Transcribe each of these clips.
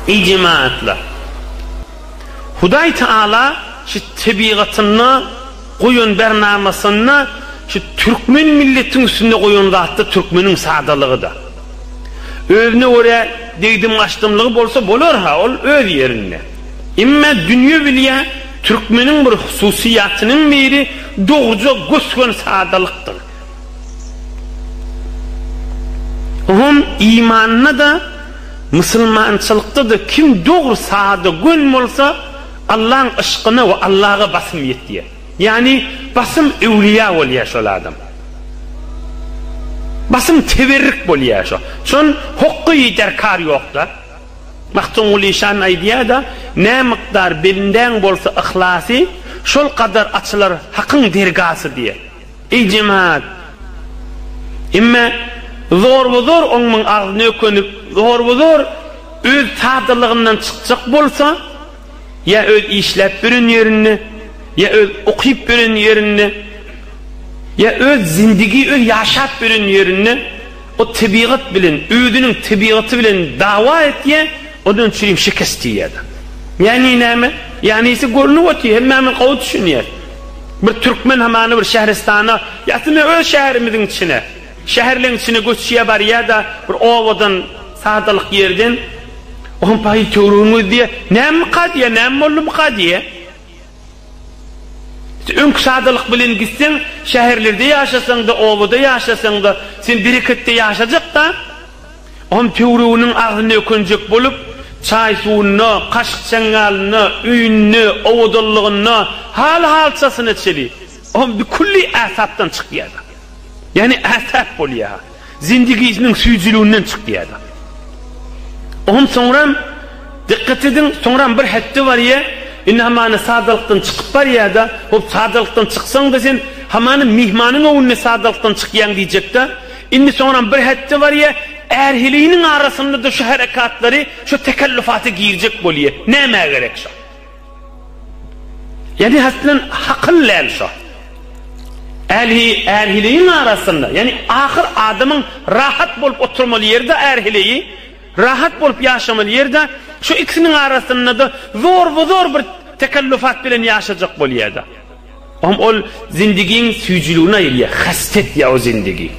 Eý jemagatlar! Hudaý Taala şu tebigatynda goýan bernamasynda şu türkmen milletiň üstünde goýan zat-da türkmeniň sadalygy-da. Özüne görä degdim-gaçdymlygy bolsa bolar-ha, ol öz ýerinde. Emma dünýe bilýär, Türkmeniň bir hususyýatynyň biri dogruja gös-gön sadalykdyr. O hem imanynda-da, musulmançylykda-da kim dogry, sada, gön bolsa, Allaň yşkyna we Allaga basym ýetýär. Ýagny, basym öwlüýä bolýar şol adam. Basym teberrik bolýar şo. Şon hokgy derkar ýok-da. Magtymguly şan aýdýar-da, Nämykdar belindäň bolsa yhlasy, şol kadar açylar Hakyň dergasy diýýär. Eý jemagat! Emme zorba-zor oňmaň agzyna ökünip, zorba-zor öz sadalygyndan çykjak bolsa, ýa öz işläp ýören ýerinde, ýa öz okyp ýören ýerinde, ýa öz zindigi öz ýaşap ýören ýerinde, O tebigat bilen, özüniň tebigaty bilen dawa etýä, ondan çüri şikes diýýä-de. Ýagny näme? Ýanysy görnüp otyr, hemmämiz gowy düşünýäs. Bir türkmen hamana bir şähristana, ýa-da öz şäherimiziň içine, şäherleň içine göçýä barýa-da, bir obadan, sadalyk ýerden, Oňa paýyl töweregiňiz diýýä, Nämemika diýýä, näme boldumyka diýýä. Öňki sadalyk bilen gitseň, şäherlerde ýaşasaň-da, obada ýaşasaň-da, sen bereketde ýaşajak-da. Oňam töwreginiň agzyny ökenjek bolup, çaý-suwunda, kaşyk-çaňňalynda, öýünde, owadanlygynda, hal-halçasyna çenli. Oňam bir külli ähtapdan çykýar-da. Ýagny ähtap bolýar. zindigisiniň süýjüliginden çykýardy. Oňam soňram, dykgat ediň, soňram bir hetde barýa, indi hamana sadalykdan çykyp barýa-da, hop sadalykdan çyksaň-da sen, hamana myhmanyň öňünde sadalykdan çykýaň diýjek-de, indi soňram bir hetde barýa, ärheliniň arasynda-da şu herekatlary, şu tekellüfaty girjek bolýa. Nämä gerek şo? Ýani haslen hakyl däl şo. Älhi älhiligiň arasynda, ýani ahyr adamyň rahat bolup oturmaly ýerde älhiligi, rahat bolup ýaşamaly ýerde şu ikisiniň arasyndada zorba zor bir tekellufat bilen ýaşajak bolýada. Ohm ol zindigiň süýjüligini aýyrýar, hasta etýär o zindigi.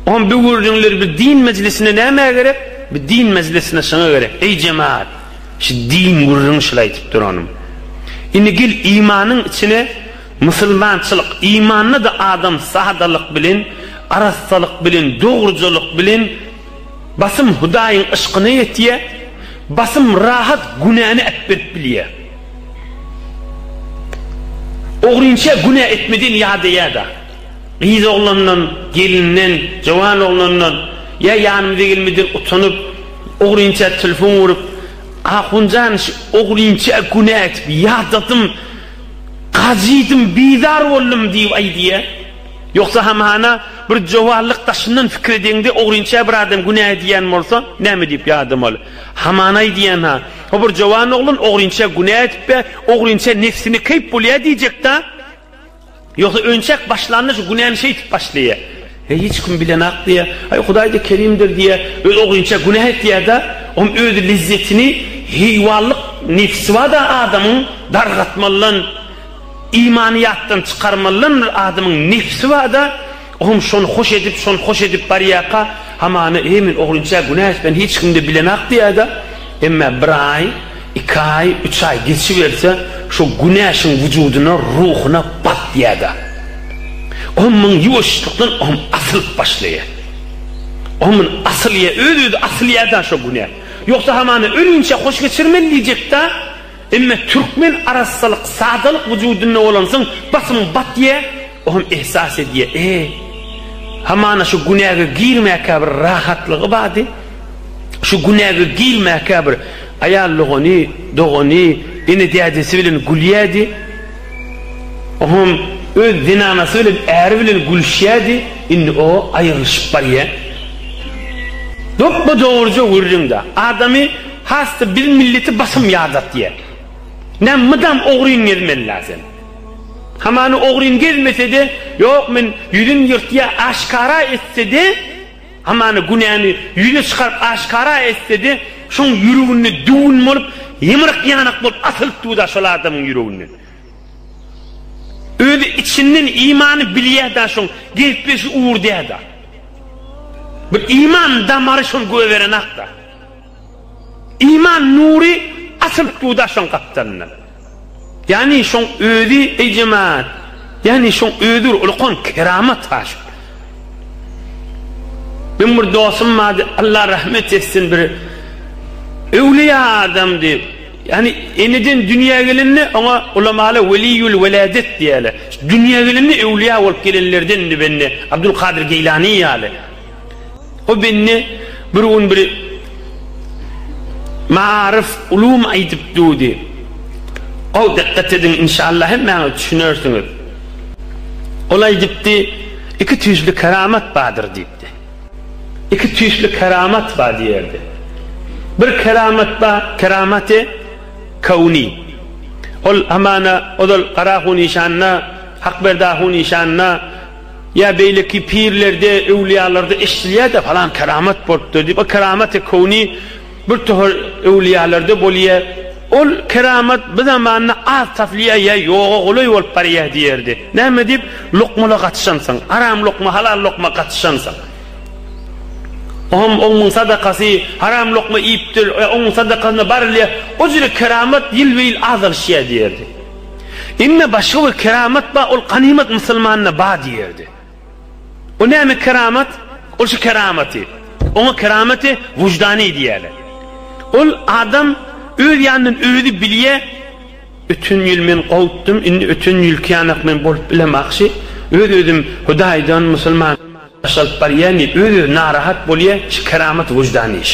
Ohm bu gürrüňler bir din mejlisine nämä gerek? Bir din mejlisine şoňa gerek. Eý jemaat, şu din gürrüňi şul aýdyp duranym. Indi gel imanyň içine musulmançylyk, imanda-da adam sadalyk bilen, arassalyk bilen, dogrujalyk bilen, Basym Hudaýyň yşkyna ýetýär, basym rahat günäni äpberip bilýär. Ogrynça günä etmedigiň ýadaýar-da. Gyz oglandan, gelinden, jowan oglandan ýa ýanymyza gelmeden utanyp, ogrynça telefon urup, Ahunjan şu ogrynça günä etip ýadadym, gajydym, bizar boldum diýip aýdýar. Ýogsa hamana bir jowarlyk daşyndan pikir edeňde ogrynça bir adam günä edýän bolsa näme diýip ýadamaly? Hamana aýdýan-ha, O bir jowan oglan ogrynça günä edipbe, ogrynça nefsini keýp bolýa diýjek-dä. Ýogsa önçäk başlanda şu günäni şeýtip başlaýa. Heý hiç kim bilenok diýä. Aý Hudaýda kerimdir diýä. Özi ogrynça günä etýä-dä. Oň özi lezzetini heýwanlyk nefsi bar-da adamyň dargatmalydan. Imany ýatdan çykarmalydan bir adamyň nebsi bar-da, oňam şony hoş edip, şony hoş edip barýarka, hamana, Eý, men ogrynça günä etmen, hiç kim-de bilenok diýer-de, emma bir aý, iki aý, üç aý geçiberse, şo günä şuň wujudyna, ruhuna bat diýer-de, oňam muny ýuwaşlykdan oňam asylyp başlaýar. Oňam muny asylýar, öz-özi asylýar-da şo günä. Ýogsa hamana ölinçä hoş geçirmeli diýjek-dä. Emma türkmen arassalyk, sadalyk wujudynda bolansoň, basym batýa, o hem ehsas edýä, e, hamana şu günäge girmäkä bir rahatlygy bardy, şu günäge girmäkä bir aýal dogany, dogany, ene-dädesi bilen gülýädi, o hem öz zenanasy bilen, äri bilen gülüşýädi, indi o aýrylyşyp barýa. Dopba-dogruja gürrüňde, adamy. Hasda biz milleti basym ýadatýa. Näm mydam ogryn gezmeli-la sen. Hamany ogryn gezmese-de, ýok men ýüzin ýyrtýa aşkara etse-de, hamany günäni ýüze çykaryp aşkara etse-de, şoň ýüreginde düwün bolup, ýymryk ýanak bolup asylyp dur-da şol adamyň ýüreginden. Özi içinden imany bilýä-da şoň, gepleşi ugur dä-da. Bir iman damary şol göberen-ak-da. Iman nury asyl suw daşyň gapdalyndan. Ýagny şoň özi, eý jemaat, ýagny şoň özidir ulkan keramat haşam. Meň bir dostum bardy, Allah rahmet etsin bir öwliýa adamdy. Ýagny eneden dünýä gelende oňa ulamalar weliýül weladet diýerler. Dünýä gelende öwliýa bolup gelenlerdendi bende, Abdul Kadyr Geýlani ýaly. O bende bir gün bir maaryf ulum aýdyp dudy. Gowy dykgat ediň inşallah hemmäňiz düşünersiňiz. Ol aýdypdy, iki tüýsli keramat bardyr diýipdi. Iki tüýsli keramat bar diýerdi. Bir keramat bar, keramaty kowni. Ol hamana ozal Garahu nişanda, Hakberdi Ahu nişanda, Ýa beýleki pirlerde, öwlüýalarda eşidilýär-de, falan keramat bolupdyr diýip, o keramaty kowni bir tohar öwlüýalarda bolýar. Ol keramat bu zamanda az tapylýar ýa ýoga golaý bolup barýar diýerdi. Näme diýip, lokmala gatyşansyň, haram lokma, halal lokma gatyşansyň. O hem oňuň sadakasy, haram lokma iýipdir, oňuň sadakasyna barylýar, o jüri keramat ýylbe-ýyl azalyşýar diýerdi. Indi başga bir keramat bar, ol ganymat musulmanda bar diýerdi. O näme keramat? Ol şu keramaty. Oňa keramaty wujdany diýerler. Ol adam öz ýanyndan özi bilýär, öten ýyl men gowutdym, indi öten ýylky ýanak men bolup bilemagşy, öz-özüm Hudaýdan, musulman, Baş alyp barýamy öz özü narahat bolýa şu keramat wyždan iş.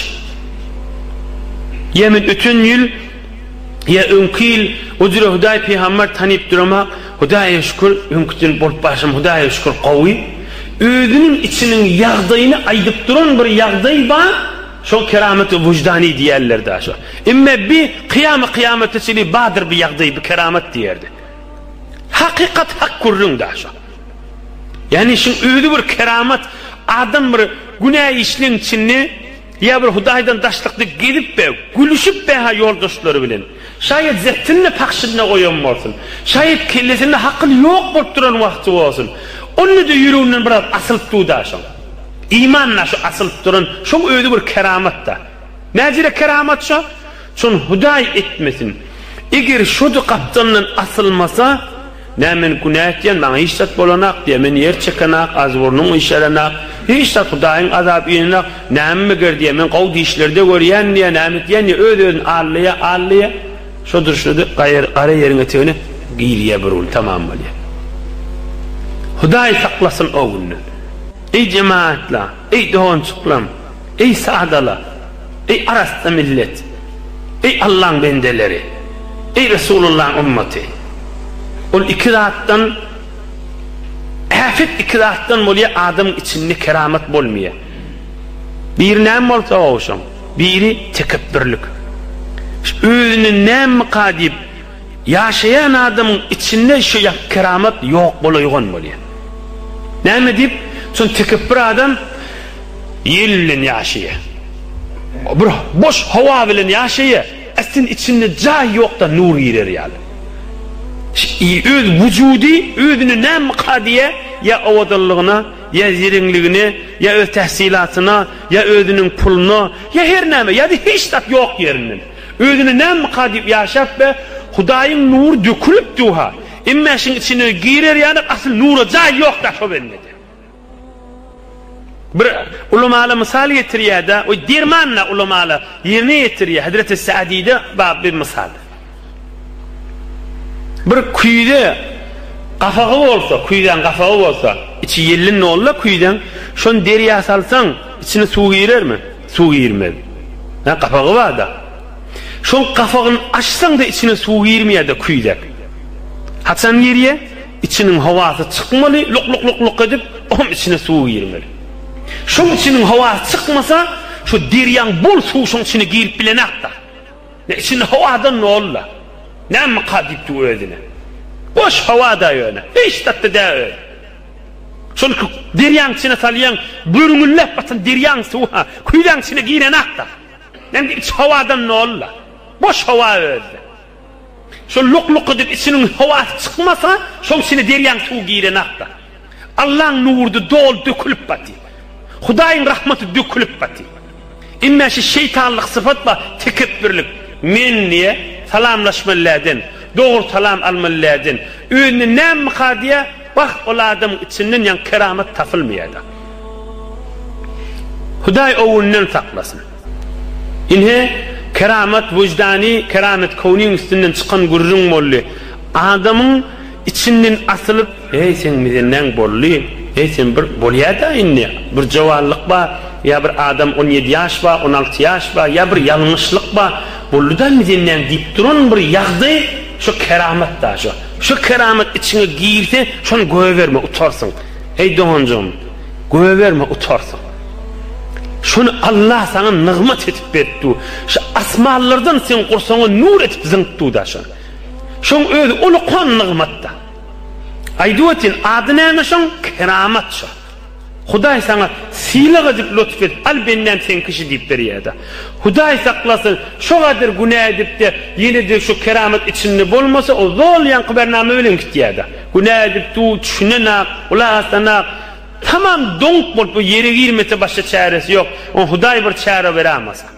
Ýa men öten ýyl ýa öňki ýyl o jüre hudaý pygambar tanyp durama hudaýa şükür öňküden bolup barşym hudaýa şükür gowy özüniň içiniň ýagdaýyny aýdyp duran bir ýagdaý ba şo keramat wyždany diýerler da şo emme bi kyýamy kyýamata çyly badyr bi ýagdaý bi keramat diýerdi hakykat hak gürrüň da şo. Ýagny işiň özi bir keramat, adam bir günä işleň içinde ýa bir Hudaýdan daşlykda gezip we gülüşip beha ýoldaşlary bilen. Şaýat zepdini pahşyna goýan bolsun. Şaýat kellesinde hakyl ýok bolup duran wagty bolsun. Onda-da ýüreginden biraz asylyp dur-da şoň. Iman-da şu asylyp duran, şoň özi bir keramat-da. Näjire keramat şo? Şony Hudaý etmesin. Eger şody gapdalyndan asylmasa, nä men günä etýän, maňa hiç zat bolanok diýýär. Men ýer çekenok, agzyburnum işelenok, hiç zat Hudaýyň azaby inenok. Näme meger diýýär, men gowy dişlerde görýän diýýär, näme etýän diýýär, öz-özüni allaýar, allaýar. Şo durşuna-da gara ýeriň etegine girýär bir gün, tamam bolýar. Hudaý saklasyn o günden. Eý jemagatlar! Eý, dogançyklam! Eý, sadalar! Eý, arassa millet! Eý, Allaň bendeleri! Eý, Resulullaň ymmaty! Ol iki zatdan, äpet iki zatdan bolýar, adamyň içinde keramat bolmaýar. Biri näme bolsa, o şoň. Biri tekepbirlik. Özüni nämika diýip, Ýaşaýan adamyň içinde şu ýap keramat ýok bolaýgan bolýar. Näme diýip, şuny tikip bir adam ýel bilen ýaşaýar. Bir boş howa bilen ýaşaýar. Aslynda içinde jaý ýokda nur girer ýaly. Ş-i öz wujudy özüne näme kadýa ýa owadanlygyna, ýa zeriňligine, ýa öz tahsylatyna, ýa özüniň puluna, ýa her näme, ýa-da hiç zat ýok ýerinden. Özüne nämka diýip ýaşap be, Hudaýyň nury dökülip duha, emmä şiň içine girer ýalyk asyl nura jaý ýok da şo bendede. Bir ulamala mysal getirýäda, oý dermanla ulamala ýerine ýetirýä, Hezreti Sadide bab bir mysal. Bir küýze gafagy bolsa, küýzäň gafagy bolsa, içi ýellin dolda küýzäň, şony derýa salsaň, içine suw girermi? Suw girmez. Hä, gapagy bar-da. Şoň gapagyny açsaň-da içine suw girmeýär-de küýzek. Haçan girýär? Içiniň howasy çykmaly, lok-lok-lok-lok edip, oňam içine suw girmeli. Şoň içiniň howasy çykmasa, şu derýaň bol suwy şoň içine girip bilenok-da. Nä, içinde howa-da nolla. Nämeka diýipdi özüne. Boş howa-da ýöne. Hiç zat-da däl özi. Çünki derýaň içine salýaň, görňüllep batan derýaň suwy-ha küýzäň içine girenakda. Indi içi howadan doly-da. Boş howa özi. Şol luk-luk edip içiniň howasy çykmasa, şoň içine derýaň suwy girenakda. Allaň nury-da doly dökülip baty. Hudaýyň rahmaty dökülip baty. Emmä şu şeýtanlyk sypat bar, tekepbirlik. Men diýýä, salamlaşmaly dälden, dogry salam almaly dälden, özünden nämmika diýýä, Wah, ol adamyň içinden ýaňy keramat tapylmaýada. Hudaý owundan saklasyn. Ine, keramat wyždany, keramat köwniň üstünden çykan gürrüň boldy. Adamyň içinden asylyp, Heý, seň mizenneň boldy? Heý, sen bir bolýada indi. Bir jowanlyk bar, ýa bir adam on ýedi ýaş bar, on alty ýaş bar, ýa bir ýalňyşlyk bar. Boldy-da mizenneň diýip duran bir ýagdaý, şo keramat daşo. Şu keramat içiňe girse, şony goýberme, utarsyň. Eý, doganjygym, goýberme, utarsyň. Şony Allah saňa nygmat edip beripdi. Şu asmanlardan seň gursaňa nur edip zyňypdy-da şony. Şoň özi ulukan nygmat-da. Aýdyp ötýän, ady näme şoň? Keramat şo. Hudaý saňa sylag edip lutf et, al bendäm seň kişi diýip berýärda. Hudaý saklasyn, şo gadyr günä edipde ýene-de şu keramat içinde bolmasa o zol ýaňky bernama bilen gitýärda. Günä edip dur, düşünenak, gulak asanak, tamam doňup bolup o ýere girmese başga çäresi ýok. Oň Hudaý bir çäre beramasa.